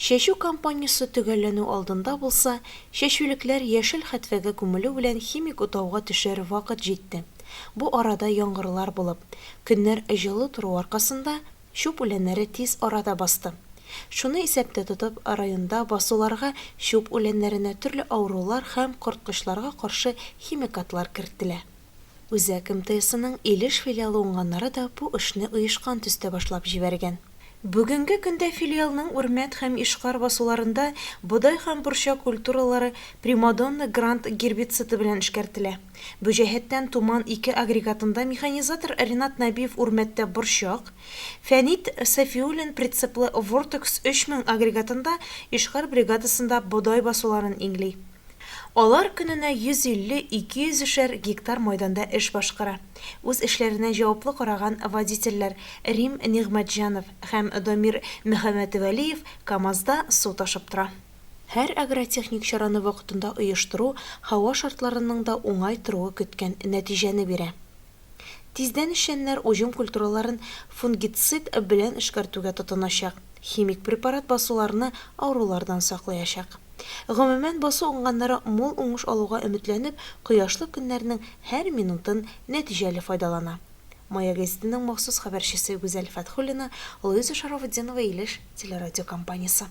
Чәчү кампаниясе төгәлләнү алдында булса, чәчүлекләр яшел хәтфәгә күмелү белән химик утауга төшәр вакыт җитте. Бу арада яңгырлар булып, көннәр җылы тору аркасында, чүп үләннәре тиз арада басты. Шуны исәптә тотып, районда басуларга чүп үләннәренә төрле авырулар һәм корткычларга каршы химикатлар керттелә. Үзәк МТСының Илеш филиалы уңганнары да бу эшне оешкан төстә башлап җибәргән. Бүгенге көндә филиалның Үрмәт һәм Ишкар басуларында бодай һәм борчак культуралары Примадонна Гранд гербициды белән эшкәртелә. Бу җәһәттән Туман ике агрегатында механизатор Ринат Нәбиев Үрмәттә борчак, Фәнит Сафиуллин прицеплы Вортекс 3000 агрегатында Ишкар бригадасында бодай басуларын иңли. Алар көненә 150-200-шәр гектар майданда эш башкара. Үз эшләренә җаваплы караган водительләр Рим Нигъмәтҗанов һәм Домир Мөхәммәтвәлиев КАМАЗда су ташып тора. Һәр агротехник чараны вакытында оештыру һава шартларының да уңай торуы көткән нәтиҗәне бирә. Тиздән эшчәннәр уҗым культураларын фунгицид белән эшкәртүгә тотыначак. Химик препарат басуларны авырулардан саклыячак. Гомумән, басу уңганнары мул уңыш алуга өметләнеп, кояшлы көннәрнең һәр минутын нәтиҗәле файдалана. Маяк гәзитенең махсус хәбәрчесе Гүзәл Фәтхуллина, Луиза Шарафутдинова Илеш телерадиокомпаниясе.